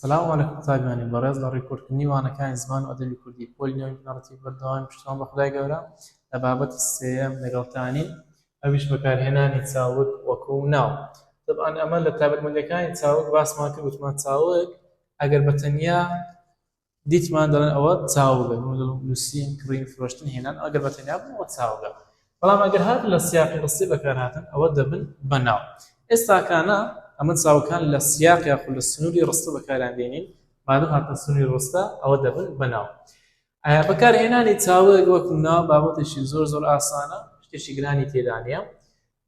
سلام علیکم قوتابیانی بەڕێز لە ڕیکۆردکردنی وانەکانی زمان و ئەدەبی کوردی پۆلی نۆی بنەڕەتی بەردەوامی پشتیوان بە خودای گەورە لە بابەتی سێیەم لەگەڵتانین ئەویش بەکارهێنانی چاوگ وەکو ناو طبعا ئەمە لە تایبەتمەندەکانی چاوگ باسمان کرد وتمان چاوگ ئەگەر بە تەنیا دیتمان دەڵێن ئەوە چاوگە من دەڵێم نووسین کڕین فرۆشتن هێنان ئەگەر بە تەنیا بن ئەوە چاوگە بەڵام ئەگەر هاتن لە سیاقی ڕستەی بەکارهاتن ئەوە دەبن بە ناو ئێستاکانە ئەمە چاوەکان لە سیاق یاخود لە سنووری ڕستە بەکاریان دێنین مادەم هاتنە سنووری ڕستە ئەوە دەبن بە ناو بەکارهێنانی چاوەیەک وەکو ناو بابەتێکی زۆر زۆر ئاسانە شتێکی گرانی تێدا نیە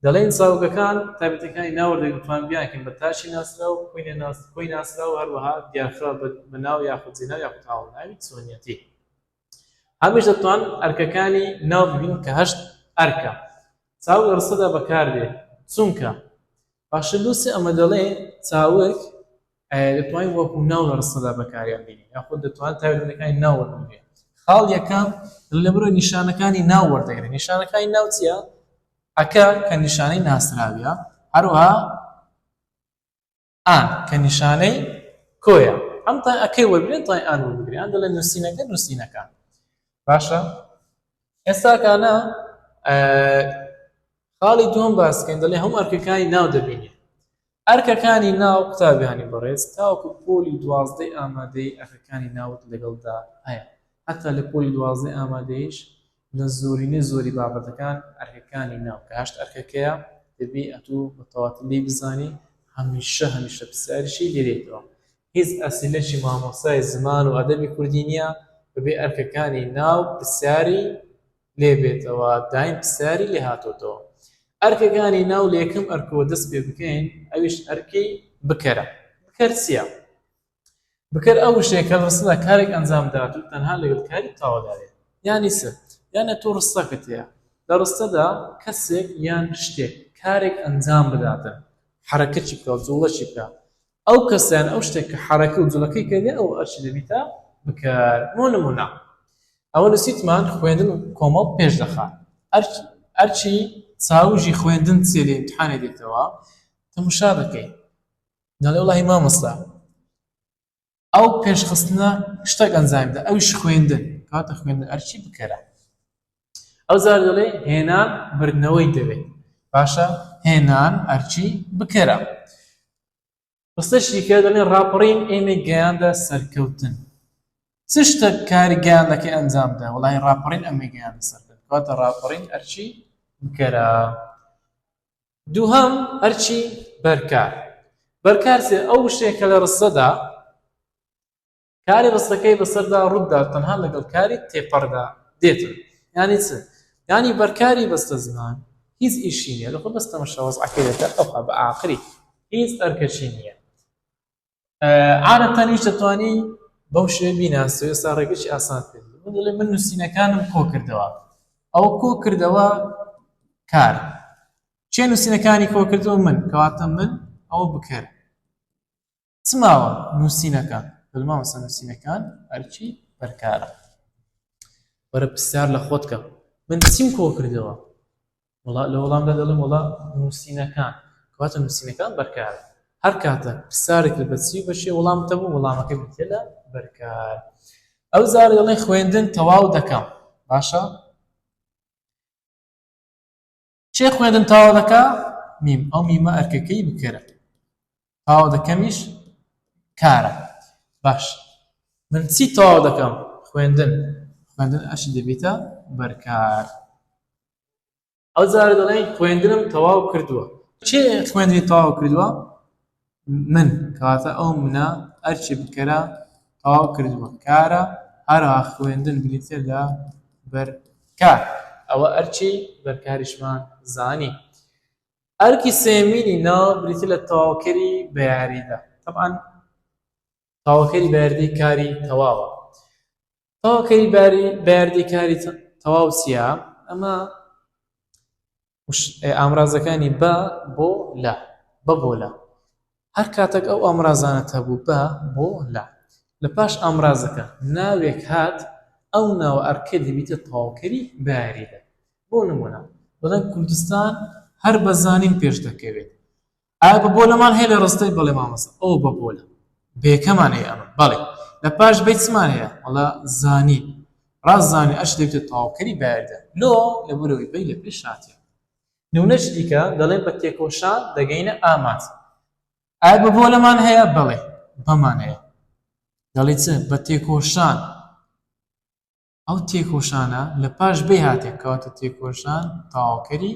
دەڵێن زاوگەکان، تایبەتییەکانی ناوەرۆک دەتوان بیانکەین بە تاشی ناسراو، کۆی ناسراو، هەروەها دیارکراو بە ناو یاخود جێناو یاخود هاوەڵناوی چۆنییەتی. هەمیش دەتوان ئەرکەکانی ناو ببین کە هەشت ئەرکە. چاوگ لە ڕستەدا بەکاردێ چونکە. باشتر لووسی ئەمە دەڵێ چاوگ ئایا دەتوانین وەکو ناو لە ڕستەدا بەکاریان بێنین یاخود دەتوانین تایبەتمەندیەکانی ناو وەربگرین خاڵ یەکەم لەبرۆی نیشانەکانی ناو وەردەگرین نیشانەکانی ناو چییە ئەکە کە نیشانەی ناسراویە هەروها ئان کە نیشانەی کۆیە ئەم تا ئەکەی وەرگرن تای ئان وەرگریان دەڵێ نووسینەکە نووسینەکان باشە ئێستاکانە خاڵی دوم باسکەین دەڵێ هەموو ئەرکەکانی ناو دەبینێ ئەرکەکانی ناو قوتابیانی بەڕێز تاوەکو پۆلی دوازدەی ئامادەیی ئەرکەکانی ناوت لەگەڵدا هەیە هەتا لە پۆلی دوازدەی ئامادەییش لە زۆرینەی زۆری بابەتەکان ئەرکەکانی ناو کە هەشت ئەرکەکەیە دەبی ئەتو بە تەواتی لێی بزانی هەمیشە هەمیشە پرسیاریشی لێ دێتەوە هیچ ئەسیلەکی مامۆستای زمان و ئەدەبی کوردی نیە بەبێ ئەرکەکانی ناو پرسیاری لێ بێتەوە دایم پسیاری لێ هاتۆتەوە ئەرکەکانی ناو لەکەم ئەرکەوە دەست پێ بکەین ئەویش ئەرکی بکەرە بکەر چییە؟ بکەر ئەو شێکە ڕستدا کارێک ئەنجام دات و تەنها لەگەڵ کاری تاوەداێت یانی سەر یانە تۆ ڕستەکەت هەیە لە ڕستەدا کەسێک یان شتێک کارێک ئەنجام بداتن حرەکەچی بکە زوڵەچی بکە ئەو کەسە یان ئەو شتێک کە حەرەکە و جڵەکەی کردێ ئەو ئەرچی دەبیتە بکار بۆ نمونە ئەوە لە سیتمان خوێندن و کۆمەڵ پێش دەخات ئەرچی چاوژی خوێندن سێ لە امتحانێ دێتەوە تەمشا بکەین دەڵێ وڵی مامۆستا ئەو پێشخستنە شتەک ئەنجامدا ئەوش خوێندن کاتە خوێندن ئەرچی بکەرە ئەو زار دەڵێ هێنان بردنەوەی دەوێت باشە هێنان ئەرچی بکەرە ڕستەشیکە دەڵێ ڕاپەڕین ئێمە گەیاندە سەرکەوتن چ شتە کاری گەیاندەکە ئەنجامدا وڵی ڕاپەڕین ئەمە گەیاندە سەرکەوت کاتە ڕاپەڕین ئەرچی بکەرە دووهەم ئەرچی بەرکار بەرکارسێ ئەو شتێکە لە ڕستەدا کاری ڕستەکەی بەسەردا ڕوودا تەنها لەگەڵ کاری تێپەڕدا دێتن یانی چ یانی بەرکاری بەستە زمان هیچ ئیشی نیە لەخۆ بەستە مشەوەز عقیدەکە ئەوها بە ئاخری هیچ ئەرکەشی نییە عادەتەنیش دەتوانی بەو شێ بیناسە ئێستا ڕێگەی ئاسان کرد من نووسینەکانم کۆ کردەوە ئەو کۆ کردەوە کار چێ نووسینەکانی کۆ کردەوە من کەواتە من ئەو بکەر چ ماوە نووسینەکان بەل مامۆستا نووسینەکان هەرچی بەرکارە وەرە پرسیار لە خۆت کە من چیم کۆ کردەوە وڵا لە وەڵامدا دەڵێم وڵا نووسینەکان کەواتە نووسینەکان بەرکارە هەر کاتە پرسیارێک لە بەچی بەشێ وەڵام تەبوو وەڵامەکە بتێ لە بەرکار ئەو زار دەڵێ خوێندن تەواو دەکەم باشە چێ خوێندن تاوا دەکا میم ئەو میمە ئەرکەکەی بکەرە تاوا دەکەمیش کارە باش من چی تاوا دەکەم خوێندن خوێندن ئەش دەبیتە بەرکار ئەو جارە دەڵێن خوێندنم تەواو کردووە چێ خوێندنی تەواو کردووە من، کەواتە ئەو منە، ئەرکی بکەرە تەواو کردووە. کارە، هەروەها خوێندن بریتییە لە بەر کار. ئەوە ئەرکی بەرکاریشمان زانی. ئەرکی سێیەمینی نا بریتییە لە تەواوکەری بە یاریدە. تەبعەن تەواوکەری بە یاریدەی کاری تەواوە. تەواوکەری باری بەیاردەی کاری تەواو چییە ئەمە ئامرازەکانی بە بۆ لە بە بۆ لە هەر کاتێک ئەو ئامرازانە هەبوو بە بۆ لە لە پاش ئامرازەکە ناوێک هات ئەو ناوە ئەرکە دەبیتە تەواوکەری بەیاریدە بۆ نمونە بڵێن کوردستان هەر بەزانین پێش دەکەوێت ئایا بەبۆلەمان هەیە لە ڕستەی؟ بەڵێ مامۆستا ئەوە بەبۆلە بەیەکەمان هەیە ئەمە بەڵێ لە پاش بەی چمان هەیە وەڵا زانین ڕاست زانین ئەش دەبێتە تەواوکەری بەیاریدا لۆ لەبەرەوەی بەی لە پێش هاتیە نمونەش دیکە دەڵێ بە تێکۆشان دەگەینە ئامانج ئایا بەبۆلەمان هەیە بەڵێ بەمان هەیە دەڵێ چ بە تێکۆشان ئەو تێکۆشانە لە پاش بەی هاتێ کەواتە تێکۆشان تەواوکەری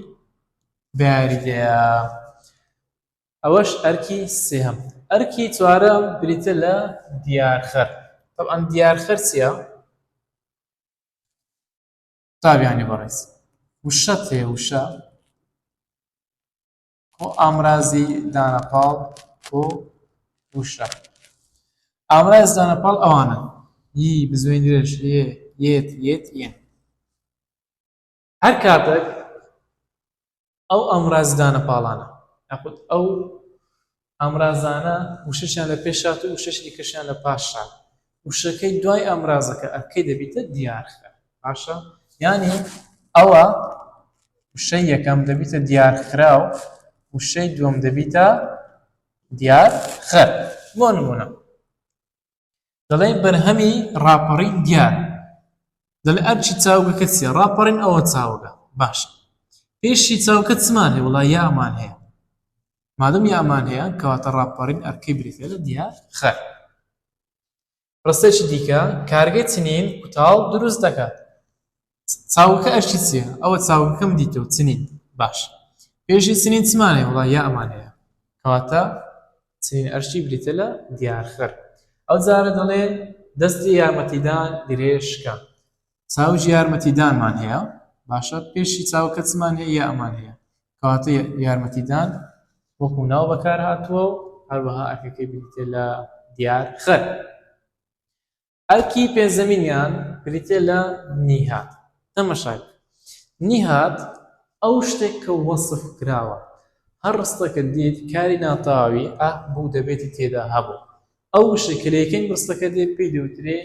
بە یاریدەیە. ئەوەش ئەرکی سێهەم ئەرکی چوارەم بریتە لە دیارخەر طبعاً دیارخەر چییە تابیانی بەڕێز وشە تێ وشە و ئامرازی دانە پاڵ و وشە ئامراز دانە پاڵ ئەوانە ی بزوێن درێژ یێ یێت یێت یێن هەر کاتێک ئەو ئامراز دانە پاڵانە یاخود ئەو ئامرازانە وشەشیان لە پێش هات و وشەشی دیکەشیان لە پاش هات وشەکەی دوای ئامرازەکە ئەکەی دەبیتە دیارخرا باشە یانی ئەوە وشەی یەکەم دەبیتە دیارخرا و وشەی دووەم دەبیتە دیار خەر بۆ نمونە دەڵێ بەرهەمی ڕاپەڕین دیار دەڵێ ئەرچی چاوگەکە چیە ڕاپەڕین ئەوە چاوگە باشە پێشی چاوکە چمان هەیە وڵا یامان هەیە مادەم یامان هەیە کەواتە ڕاپەڕین ئەرکەی بریتیە لە دیار خەر. ڕستەیەکی دیکە، کارگەی چنین کوتاڵ دروست دەکات. چاوگەکە ئەرکی چییە؟ ئەوە چاوگەکەم دیتەوە چنین. باشە پێشی چنین چمان هەیە؟ وەڵا یامان هەیە. کەواتە چنین ئەرکی بریتیە لە دیار خەر. ئەوجارە دەڵێ دەستی یارمەتیدان گرێ شکا. چاوج یارمەتی دانمان هەیە باشە پێشی چاوکە چمان هەیە یا ئەمان هەیە کاتێ یارمەتی دان وەکو ناو بەکار هاتووە و هەروەها ئەرکەکەی بریتێ لە دیار خەر ئەرکی پێنجەمینیان بریتێ لە نیهات تەمەشاک نیهات ئەو شتێک کە وەصف کراوە هەر ڕستەکە دیت کاری ناتاوی ئە بوو دەبێتی تێدا هەبوو ئەو وشەی کە لە یەکەمی ڕستەکە دێت پێی دەوترێ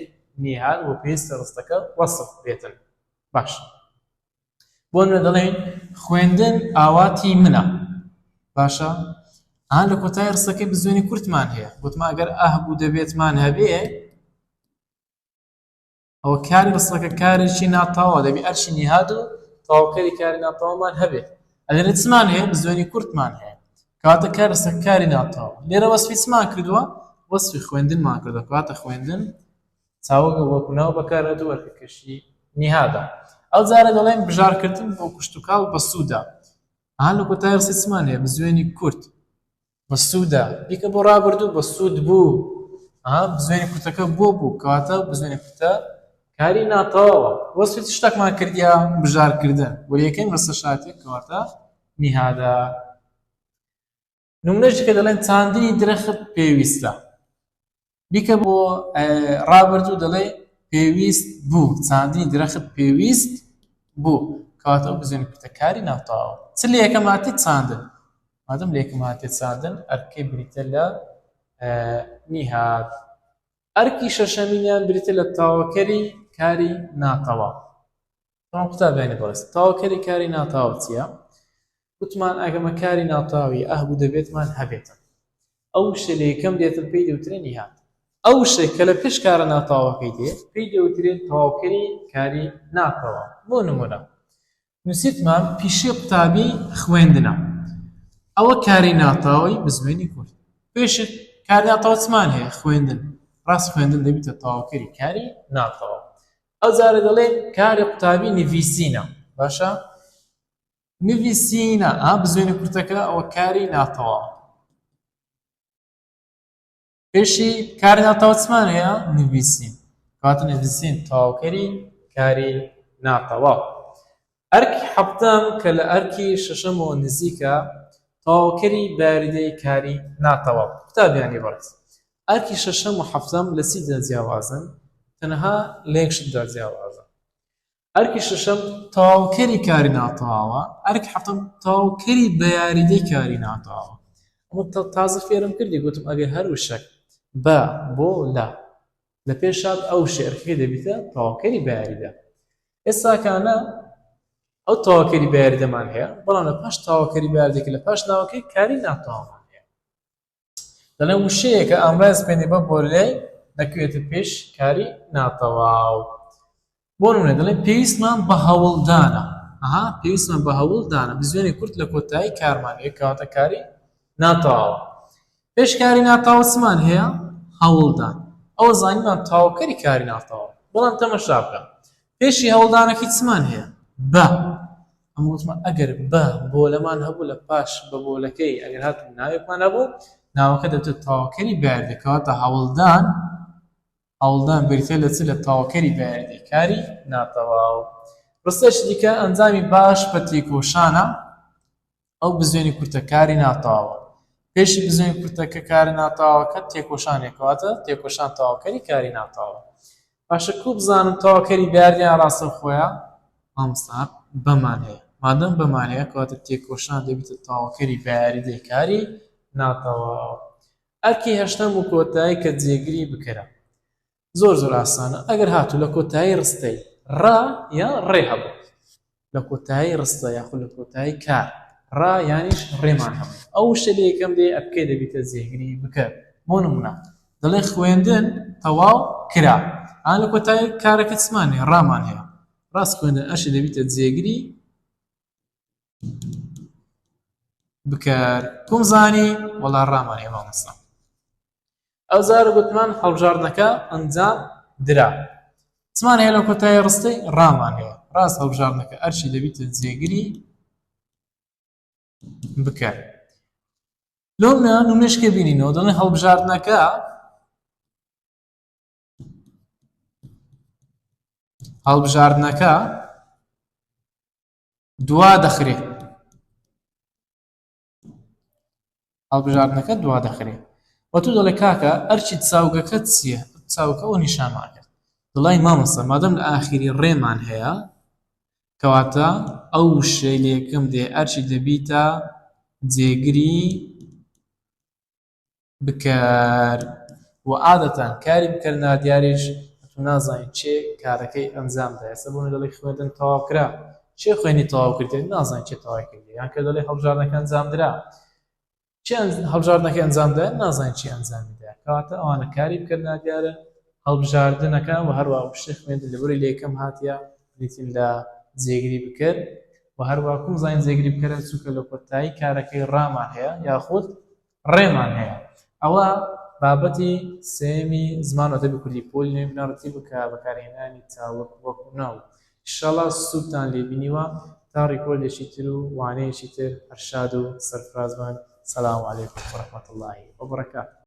نیهال و پێویستە ڕستەکە وەسف بێتن باش بۆ نمونە دەڵێین خوێندن ئاواتی منە باشە ئا لە کۆتای ڕستەکەی بزوێنی کورتمان هەیە گوتمان گەر ئاه بوو دەبێتمان هەبێ ئەوە کاری ڕستەکە کارێکی ناتاوا دەبی ئەرشی نیهاد و تاوکەری کاری ناتاوامان هەبێت ئەلێرە چمان هەیە زۆنی کورتمان هەیە کاتە کار ڕستە کاری ناتاوا لێرە وەسفی چمان کردووە وەسفی خوێندنمان کردە کاتە خوێندن چاوەگە وەکو ناو بەکار هەدوو وەرکەکەشی نیهادا ئەو جارە دەڵێن بژارکردن بۆ کوشتتوکاڵ بەسوودا ئا لە کۆتای ڕسیسمان هەیە بزوێنی کورت بەسوودە بیکە بۆ ڕابردوو بەسوود بوو بزوێنی کورتەکە بۆ بوو کەواتە بزوێنی کورتە کاری ناتەواوە وەسوێت شتێکمان کردیا بژارکردن بۆ یەکەم ڕستە شاتێک کەواتە نیهادا نمونەشی کە دەڵێن چاندنی درەخت پێویستە بیکە بۆ ڕابردوو دەڵێ پێویست بوو چاندنی درەخت پێویست بوو کەواتە ئەو بزوێنە کورتە کاری ناتەواوە چ لە یەکەم هاتێ چاندن مادەم لە یەکەم هاتێ چاندن ئەرکەی بریتە لە نیهات ئەرکی شەشەمینیان بریتە لە تاوەکەری کاری ناتەواو بەڵام قوتابیانی بەڕێز تەواوکەری کاری ناتەواو چییە؟ وتمان ئەگەمە کاری ناتەواوی ئەهبوو دەبێتمان هەبێتن ئەو شتە لە یەکەم دێتن پێی دەوترێ نیهات ئەو شتە کە لە پێش کارە ناتەواوەکەی دێ پێی دەوترێت تەواوکەری کاری ناتەواو بۆ نمونە نووسیتمان پیشەی قوتابی خوێندنە ئەوە کاری ناتەواوی بزوێنی کورد پێشت کاری ناتەواو چمان هەیە خوێندن ڕاست خوێندن دەبیتە تەواوکەری کاری ناتەواو ئەو جارە دەڵێ کارە قوتابی نڤیسینە باشە نڤیسینە ئا بزوێنە کورتەکە ئەوە کاری ناتەوە پێشی کار ناتەوەچمان هەیە نڤیسین کات نڤیسین تاوکەری کاری ناتەوە ئەرکی حەڤدەم کە لە ئەرکی شەشەمەوە نزیکە، تەواوکەری بەیاریدەی کاری ناتەواو. قوتابیانی بەڕێز، ئەرکی شەشەم و حەفتەم لە چیدا جیاوازن؟ تەنها لە یەک شتدا جیاوازن. ئەرکی شەشەم تەواوکەری کاری ناتەواوە، ئەرکی حەفتەم تەواوکەری بەیاریدەی کاری ناتەواوە. ئەمە تازە فێرم کردی گوتم ئەبێ هەر وشەک بە، بۆ، لە. لە پێشات ئەو شعرکەی دەبیتە تەواوکەری بەیاریدا ئێستاکانە ئەو تەواوکەری بەیاریدەمان هەیە بەڵام لە پاش تەواوکەری بەیاردێکی لە پاش ناوەکەی کاری ناتەوامان هەیە دەڵێ وشەیەکە ئامراز پێێنێ بە بۆ لێ دەکوێتە پێش کاری ناتەواو بۆ نمونە دەڵێ پێویستمان بە هەوڵدانە ئەها پێویستمان بە هەوڵدانە بزوێنی کورت لە کۆتایی کارمان یە کاتەکاری ناتاوە پێشکاری ناتاوە چمان هەیە هەوڵدان ئەوە زانیمان تاوکەری کاری ناتاوە بەڵام تەمەشا بکە پێشی هەوڵدانەکەی چمان هەیە بە ئەمەوتمە ئەگەر بە بۆ لەمان هەبوو لە پاش بە بۆلەکەی ئەگەر هات ناوێکمان هەبوو ناوەکە دەبێت تاوکەری بەردەکەواتە هەوڵدان هەوڵدان بریتیە لە چ؟ لە تەواوکەری بەیاریدەی کاری ناتەواو. ڕستەیەکی دیکە، ئەنجامی باش بە تێکۆشانە، ئەو بزوێنی کورتە کاری ناتەواوە. پێشی بزوێن کورتەکە کارە ناتەواوەکە تێکۆشانێکە، واتە تێکۆشان تەواوکەری کاری ناتەواوە. باشە کوو بزانم تەواوکەری بەیاریدەیان ڕاستەوخۆیە؟ مامۆستا بەمان هەیە، مادەم بەمان هەیە کەواتە تێکۆشان دەبیتە تەواوکەری بەیاریدەی کاری ناتەواو. ئەرکی هەشتەم و کۆتایی کە جێگری بکەرە زۆر زۆر ئاسانە ئەگەر هاتوو لە کۆتایی ڕستەی ڕا یا ڕێ هەبوو لە کۆتایی ڕستە یاخود لە کۆتایی کار ڕا یانیش ڕێمان هەبوو ئەو شتە لە یەکەم دێ ئەبکەی دەبیتە جێگری بکەر بۆ نمونە دەڵێ خوێندن تەواو کرا ئا لە کۆتایی کارەکە چمان هەیە ڕامان هەیە ڕاست خوێندن ئەشی دەبیتە جێگری بکار کوم زانی وەڵا ڕامانێ مامۆستا ئەو زار گوتمان هەڵبژاردنەکە ئەنجام درا چمان هەیە لە کۆتای ڕستەی ڕامان هەیە ڕاست هەڵبژاردنەکە ئەرشی دەبیت جێگری بکار لۆم نە نمونەشکە بینینەوە دەڵێ هەڵبژاردنەکە هەڵبژاردنەکە دوا دەخرێ هەڵبژاردنەکە دوا دەخرێ وە تو دەڵێ کاکە ئەرچی چاوگەکەت چییە چاوکە ئەو نیشانماکرد دڵای مامەسە مادەم لە ئاخیری ڕێمان هەیە کەواتە ئەو شەیلێکم دێ ئەرچی دەبیتە جێگری بکەر و عادەتەن کاری بکەر نادیاریش ئەتوو نازانی چێ کارەکەی ئەنجام دا ئێستا بۆمنی دەڵێ خوێندن تەواو کرا چێ خوێندی تەواو کردێ نازانی چێ تەوای کردێ یان کە دەڵێ هەڵبژاردنەکە ئەنجام درا چێ هەڵبژاردنەکە ئەنجام دا نازانی چێ ئەنجامی دا کەواتە ئەوانە کاری بکەر نادیارە هەڵبژاردنەکە و هەروە شتێ خوێندن لەبری لە یەکەم هاتیە بریتین لە جێگری بکەر و هەروا کووزاین جێگری بکەرە چووکە لە کۆتایی کارەکەی ڕامان هەیە یاخود ڕێمان هەیە ئەوە بابەتی سێمی زمان ئەدەبی کوردی پۆلی نوێ بنەڕەتی بکە بەکارهێنانی تاوەک وەک و ناو ئیشەڵا سوودتان لێ بینیوە تا ڕیکۆردێکی تر و وانەیەکی تر هەر شاد و سەرفرازبن سلام علیکم ورحمة اللە وبرکاته